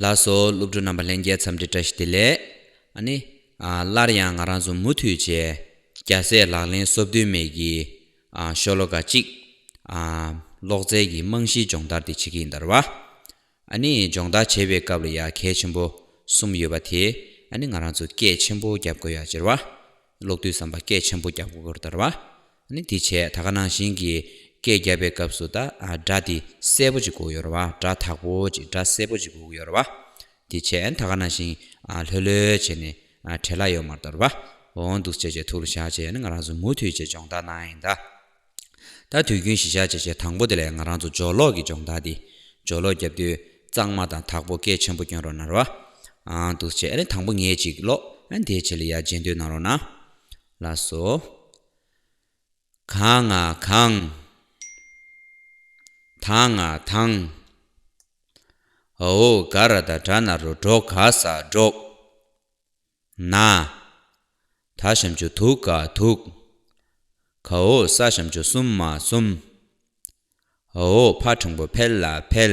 ལ་སོགས་སློབ་ཕྲུག་རྣམ་པ་ལྷན་རྒྱས་འཚམས་འདྲི་བཀྲ་ཤིས་བདེ་ལེགས། ནི། སླར་ཡང་ང་རང་ཚོ་མུ་མཐུད་བཅས་རྒྱ་སྲས་ལག་ལེན་གསོབ་དོན་མེད་ཀྱི། ཤོ་ལོ་ཀ་གཅིག། ལོག་རྩལ་གྱི་རྨང་གཞིའི་སྦྱོང་བརྡར་དེ་བྱེད་ཀྱི་ཡིན་དར་བ། ནི། སྦྱོང་བརྡར་བྱེད་པའི་སྐབས་ལ་ཡ་གལ་ཆེན་པོ་གསུམ་ཡོད་པ་དེ། ནི་ང་རང་ཚོ་སྐད་ཆེན་པོ་རྒྱབ་དགོས་ཡ་སྦྱར་བ། ཀློག་དུས་བསམ་པ་སྐད་ཆེན་པོ་རྒྱབ་དགོས་དར་བ། ནི་དེ་བྱས་ད་ག་ནང་བཞིན་གྱི། སྐད་བརྒྱབ་པའི་སྐབས་སུ་ད་སྒྲ་དེ་གསལ་པོ་ཅིག་གོ་ཡོར་བ་སྒྲ་དག་པོ་ཅིག་སྒྲ་གསལ་པོ་ཅིག་གོ་ཡོར་བ། དེ་བྱས་ད་ག་ནང་བཞིན་ལྷོད་ལྷོད་བྱས་ནས་བྲེ་ལ་ཡོ་མར་དོར་བ། འོང་འདུག་བྱས་བྱས་ཐུགས་ལ་བཞག་བྱས་ནས་ང་རང་ཚོ་མུ་མཐུད་བྱས་སྦྱོང་བརྡར་གནང་ཡིན་ད། ད་དུས་རྒྱུན་བཞིན་བྱས་བྱས་བྱས་དང་པོ་དེ་ལས་ང་རང་ཚོ་སྦྱོར་ཀློག་གི་སྦྱོང་བརྡར་དེ། སྦྱོར་ཀློག་བརྒྱབ་དུས་གཙང་མ་དང་དག་པོ་སྐད་ཆེན་པོ་སྐྱོན་རོགས་གནང་རོགས། འང་འདུག་བྱས་ནས་དང་པོ་ངེད་ཅིག་ཀློག། དེ་བྱས་ལ་ཡར་རྗེས་མདུན་གནང་རོགས་གནང། ལགས་སོ། གང་ང་གང། དང་ང་དང། ཨོའོ་ག་ར་ད་དྲ་ན་རུ་འགྲོ་ག་ས་སྒྲོག། ན། ད་ཤམ་ཆུ་དུག་ག་དུག། ག་ཨོ་ས་ཤམ་ཆུ་གསུམ་མ་གསུམ། ཨོའོ་ཕ་ཕྲང་པོ་འཕེལ་ལ་འཕེལ།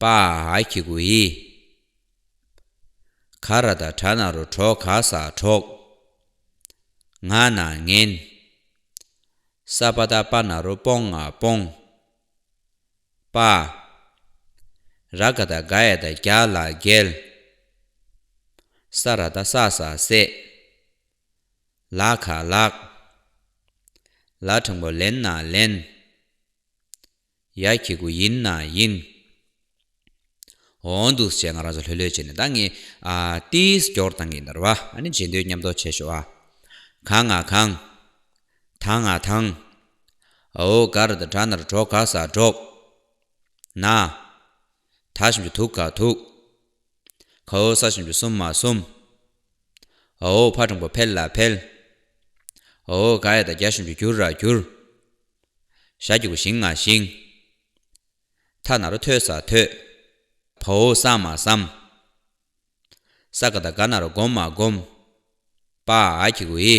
པ་ཨཱ་ཀྱི་གུ་ཧི། ག་ར་ད་དྲ་ན་རུ་གྲོག་ག་ས་གྲོག། ང་ན་ངན། ས་པ་ད་པ་ན་རུ་སྤོང་ང་སྤོང། པ་ཨཱ། ར་ག་ད་ག་ཡ་ད་རྒྱ་ལ་རྒྱལ། ས་ར་ད་ས་ས་སྲས། ལ་ཁ་ལགས། ལ་དྲང་པོ་ལན་ན་ལན། ཡ་ཁྱི་དགུ་ཡིན་ན་ཡིན། འོང་འདུག་ཅེས་ང་རང་ཚོ་ལྷོད་ལྷོད་བྱས་ནས་ད་ངས་ཏིས་སྐྱོར་བཏང་གིན་འདར་བ་ཨ་ནི་བྱེད་འདོད་ཉམས་རྟོགས་བྱས་ཤོག་ཨ། གང་ང་གང། ཐང་ང་ཐང། ཨོའོ་གར་དང་གྲ་ནར་གྲོགས་ག་སར་འགྲོགས། ན། ད་ཞིམ་ཅུ་ཐུག་ག་ཐུག། ཁའོ་ས་ཞིམ་ཅུ་སུམ་མ་གསུམ། ཨོའོ་ཕ་གྲོང་པོ་འཕེལ་ལ་འཕེལ། ཨོའོ་ག་ཡ་ད་རྒྱ་ཞིམ་ཅུ་གྱུར་ར་གྱུར། ཞྭ་སྐྱིགས་པོ་ཞིང་ང་ཞིང། ཐ་ན་རོ་ཐོས་ས་ཐོས། ཕའོ་ས་མ་སམ། ས་ག་ད་ག་ན་རོ་སྒོམ་མ་སྒོམ། པ་ཨ་ཨ་ཁྱི་གུ་ཨི།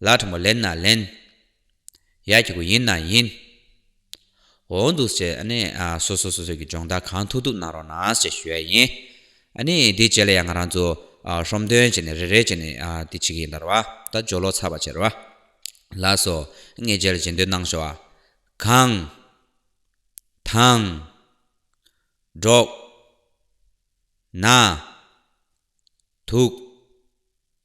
ལགས་ཁྲོ་མོ་ལེན་ན་ལེན། ཡག་གི་གོ་ཡིན་ན་ཡིན། འོ་འདུག་ཟེར་ཨ་ནི་སོ་སོ་སོ་སོ་གི་སྦྱོང་བརྡར་གང་ཐུག་ཐུག་གནང་རོགས་གནང་ཞེས་ཞུ་ཡ་ཡིན། ཨ་ནི་དེ་རྗེས་ལ་ཡང་ང་རང་ཚོ་ཧྲོམ་དོན་བྱས་ནས་རེ་རེ་བྱས་ནས་དེ་བྱེད་ཀྱི་ཡིན་དར་བ་ད་སྦྱོར་ལོག་ཚར་བ་བྱེད་ར་བ་ལགས་སོ་ངས་རྗེས་ལ་བྱེད་འདོད་གནང་ཞོ་ཨ། གང། ཐང། འགྲོགས། ན། ཐུག།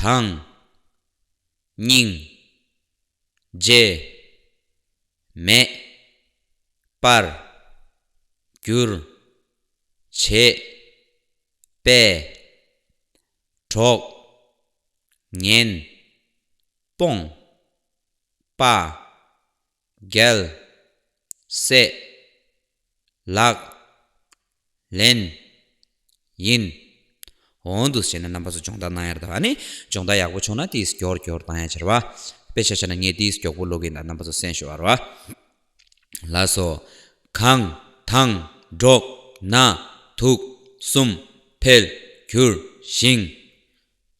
དང། སྙིང། རྗེ། མེད། པར། གྱུར། བྱེད། པའི། གྲོགས། ངན། སྤོང། པ། རྒྱལ། སྲས། ལག། ལེན། ཡིན། འོང་དུ་བྱེད་ན་རྣམ་པ་ཚོ་སྦྱོང་བརྡར་གནང་ཡར་དར་བ་ནི་སྦྱོང་བརྡར་ཡག་པོ་བྱུང་ན་དེས་མགྱོགས་མགྱོགས་གཏང་ཡ་ཆེ་ར་བ། དཔེ་ཆ་ཆ་ན་ངས་དེས་མགྱོགས་པོ་ཀློག་གིན་གདའ་རྣམ་པ་ཚོ་སེམས་ཤོར་བ་ར་བ། ལ་སོ། གང། དང། འགྲོགས། ན། དུག། གསུམ། འཕེལ། གྱུར། ཞིང།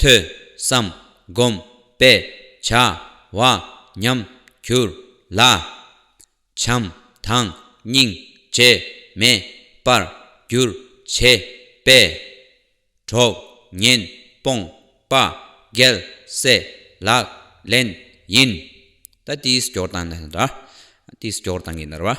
ཐོས། བསམ། བསྒོམ། པས། བྱ། བ། ཉམས། གྱུར། ལ། བྱམས། དང། སྙིང། རྗེ། མེད། པར། འགྱུར། བྱེད། པས། གྲོགས། ཉེན། སྤོང། པ། རྒྱལ། སྲས། ལག། ལེན། ཡིན། ད། ཏིས། སྐྱོར། དང། ནལ། འདྲ། ཏིས། སྐྱོར། དང། གིས། ནལ། བ།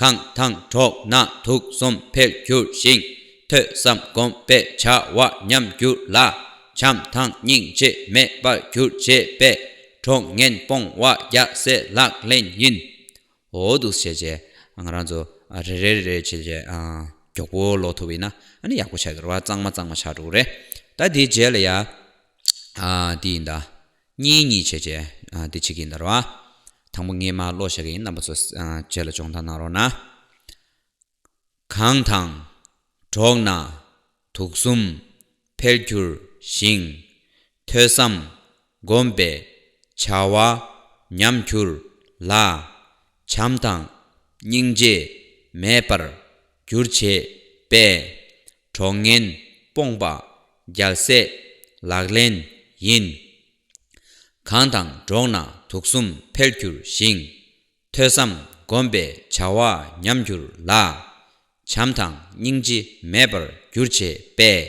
གང་དང་གྲོགས་ན་དུག་གསུམ་འཕེལ་འགྱུར་ཞིང། ཐོས་བསམ་སྒོམ་པའི་བྱ་བ་ཉམས་འགྱུར་ལ། བྱམས་དང་སྙིང་རྗེ་མེད་པར་གྱུར་ཅེས་པས། གྲོགས་ངན་སྤོང་བ་རྒྱ་སེ་ལག་ལེན་ཡིན། འོ་འདུག་བྱས་རྗེས་ང་རང་ཚོ་རེ་རེ་རེ་རེ་བྱས་རྗེས་མགྱོགས་པོ་ལོག་ཐུབ་ཡིན་ན་ཡག་པོ་བྱ་དགོས་རེད་བ་གཙང་མ་གཙང་མ་བྱ་འགྲོ་གི་རེད། ད་དེའི་རྗེས་ལ་ཡང་འདི་ཡིན་ད། གཉིས་གཉིས་བྱས་བྱས་ཏེ་བྱེད་ཀྱིན་གདའ་རོགས། དང་པོ་ངས་མ་བློ་བཞག་གི་ཡིན་རྣམ་པ་ཚོ་བྱས་ལ་སྦྱོང་བརྡར་གནང་རོགས་གནང། གངས་དང། གྲོགས་ན། དུག་གསུམ། འཕེལ་འགྱུར། ཞིང། ཐོས་བསམ། བསྒོམ་པའི། བྱ་བ། ཉམས་འགྱུར། ལ། བྱམས་དང། སྙིང་རྗེ། མེད་པར། འགྱུར་བྱེད། པས། གྲོགས་ངན་སྤོངས་པ་རྒྱལ་སྲས་ལག་ལེན་ཡིན། གང་དང་འགྲོགས་ན་དུག་གསུམ་འཕེལ་འགྱུར་ཞིང། ཐོས་བསམ་བསྒོམ་པའི་བྱ་བ་ཉམས་འགྱུར་ལ། བྱམས་དང་སྙིང་རྗེ་མེད་པར་འགྱུར་བྱེད་པས།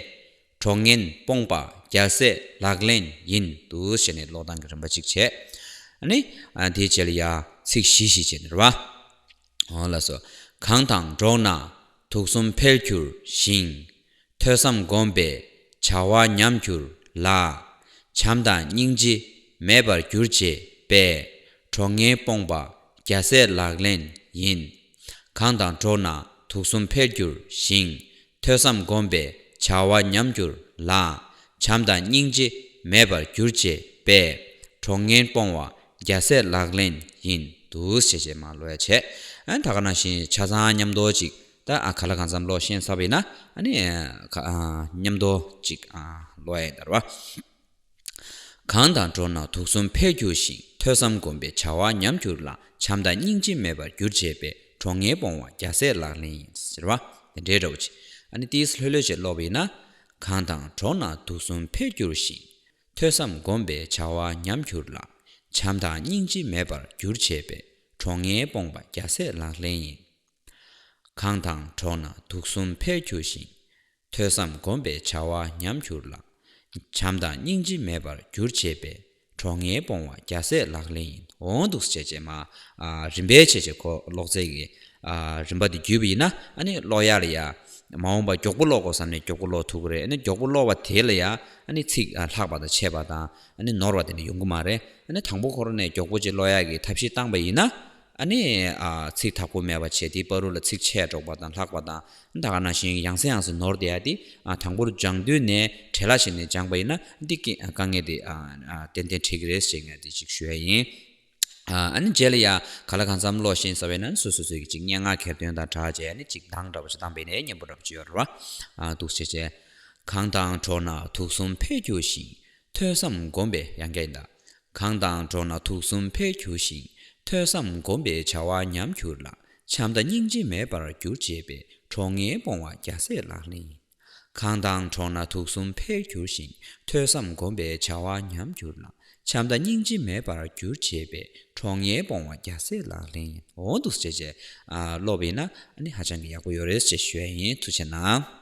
གྲོགས་ངན་སྤོངས་པ་རྒྱལ་སྲས་ལག་ལེན་ཡིན། དུ་ཞེས་ནས་ཀློག་སྟངས་ཀྱི་རིམ་པ་གཅིག་བྱས། ནི། དེའི་རྗེས་ལ་ཡ། ཚིག་བཞི་བཞི་བྱས་ནས་རེ་བ། ལ་སོགས། གང་དང་འགྲོགས་ན་དུག་གསུམ་འཕེལ་གྱུར་ཞིང། ཐོས་བསམ་བསྒོམས་པས་བྱ་བ་ཉམས་གྱུར་ལ། བྱམས་དང་སྙིང་རྗེ་མེད་པར་གྱུར་ཅེས་པས། གྲོགས་ངན་སྤོངས་པ་རྒྱ་ཟས་ལག་ལེན་ཡིན། གང་དང་འགྲོགས་ན་དུག་གསུམ་འཕེལ་གྱུར་ཞིང། ཐོས་བསམ་བསྒོམས་པས་བྱ་བ་ཉམས་འགྱུར་ལ། བྱམས་དང་སྙིང་རྗེ་མེད་པར་གྱུར་ཅེས་པས། གྲོགས་ངན་སྤོང་བ་རྒྱ་སྲས་ལག་ལེན་ཡིན། འདུག་ཞེས་བྱས་མ་ལོས་བྱས། ད་ག་ན་བཞིན་ཆ་ཚང་མཉམ་འདོར་ཅིག་ད་ག་ལ་གང་བསམ་བློ་ཤན་སྲབ་ཡིན་ན། མཉམ་འདོར་ཅིག་ལོས་ཡིན་དར་བ། གང་དང་འགྲོགས་ན་དུག་གསུམ་འཕེལ་འགྱུར་ཞིང་ཐོས་བསམ་སྒོམ་པའི་བྱ་བ་ཉམས་འགྱུར་ལ་བྱམས་དང་སྙིང་རྗེ་མེད་པར་འགྱུར་བྱེད་པའི་གྲོགས་ངན་སྤོང་བ་རྒྱ་སྲས་ལག་ལེན་ཡིན། ཟེར་བ་དེ་འདྲའི་འདྲ་བོ་ཆེ། ཨ་ནི་ཏིས་ལྷོད་ལྷོད་བྱེད་ཀློག་པ་ཡིན་ན། གང་དང་འགྲོགས་ན་དུག་གསུམ་འཕེལ་འགྱུར་ཞིང་ཐོས་བསམ་སྒོམ་པའི་བྱ་བ་ཉམས་འགྱུར་ལ་བྱམས་དང་སྙིང་རྗེ་མེད་པར་འགྱུར་བྱེད་པའི་གྲོགས་ངན་སྤོང་བ་རྒྱ་སྲས་ལག་ལེན་ཡིན། གང་དང་འགྲོགས་ན་དུག་གསུམ་འཕེལ་འགྱུར་ཞིང་ཐོས་བསམ་སྒོམ་པའི་བྱ་བ་ཉམས་གྱུར་ལ། བྱམས་དང་སྙིང་རྗེ་མེད་པར་གྱུར་བྱས་པས་གྲོགས་ངན་སྤོང་བ་བརྒྱ་ཟད་ལག་ལེན་ཡིན་འོང་འདུག་བྱས་བྱས་མ། རིམ་པའི་བྱས་བྱས་གོ་ལོག་རྩལ་གྱི་རིམ་པ་དེ་བརྒྱུད་པ་ཡིན་ན་ཀློག་ཡ་ལ་ཡ། མ་འོངས་པ་མགྱོགས་པོ་ཀློག་དགོས་བསམ་ནས་མགྱོགས་པོ་ཀློག་ཐུབ་ཀྱི་རེད་མགྱོགས་པོ་ཀློག་པ་དེ་ལ་ཡ། ཚིག་ལྷག་པ་དང་ཆད་པ་དང་ནོར་བ་དེ་འདྲ་ཡོང་གི་མ་རེད། དང་པོ་ཁོ་རང་ནས་མགྱོགས་པོ་ཅིག་ཀློག་ཡ་གི་ཐབས་ཤེས་བཏང་པ་ཡིན་ན། ཨ་ནི། ཚིག་དག་པོ་མེད་པར་བྱས་ཏེ་པ་རུ་ལ་ཚིག་ཆད་སྒྲོག་པ་དང་ལྷག་པ་དང་འདའ་ཀ་ན་ཞིང་ཡང་སེ་ཡང་སེ་ནོར་བསྡད་དེ། དང་པོར་སྦྱང་དུས་ནས་བྲེ་ལ་ཞིག་ནས་སྦྱངས་པ་ཡིན་ན་འདི་སྐད་དཀའ་ངལ་དེ། ཏན་ཏན་འཕྲད་ཀྱི་རེད་ཞེས་ངས་དེ་ཅིག་ཞུ་ཡ་ཡིན། ཨ་ནི་རྗེས་ལ་ཡ། ག་ལ་གང་འཚམ་བློ་ཞེན་ཟ་བས་ན་སོ་སོས་སོས་ཀྱི་ཅིག་སྙན་ངག་གྱེར་འདོན་དང་གྲགས་བྱས་ནས་ཅིག་མདངས་འདྲ་བ་ཞིག་བཏང་བས་ནས་སྙན་པོ་འདྲ་བ་ཅིག་ཡོད་རེད་བ། འདུག་བྱས་བྱས། གངས་དང་གྲོགས་ན་དུག་གསུམ་འཕེལ་འགྱུར་ཞིང། ཐོས་བསམ་སྒོམ་པའི་ཡང་སྐྱ་ཡིན་དང། གང་དང་འགྲོགས་ན་དུག་གསུམ་འཕེལ་འགྱུར་ཞིང་ཐོས་བསམ་སྒོམ་པའི་བྱ་བ་ཉམས་འགྱུར་ལ་བྱམས་དང་སྙིང་རྗེ་མེད་པར་འགྱུར་ཅེས་པའི་གྲོགས་ངན་སྤོང་བ་རྒྱ་སྲས་ལག་ལེན་ཡིན། གང་དང་འགྲོགས་ན་དུག་གསུམ་འཕེལ་འགྱུར་ཞིང་ཐོས་བསམ་སྒོམ་པའི་བྱ་བ་ཉམས་འགྱུར་ལ་བྱམས་དང་སྙིང་རྗེ་མེད་པར་འགྱུར་ཅེས་པའི་གྲོགས་ངན་སྤོང་བ་རྒྱ་སྲས་ལག་ལེན་ཡིན། འོང་འདུག་ཟེར་བྱས་ཀློག་པའི་ན་ནི་ཧ་ཅང་གི་ཡག་པོ་ཡོད་རེད་ཅེས་ཞུ་ཡ་ཡིན་མཐུ་ཆེ་གནང།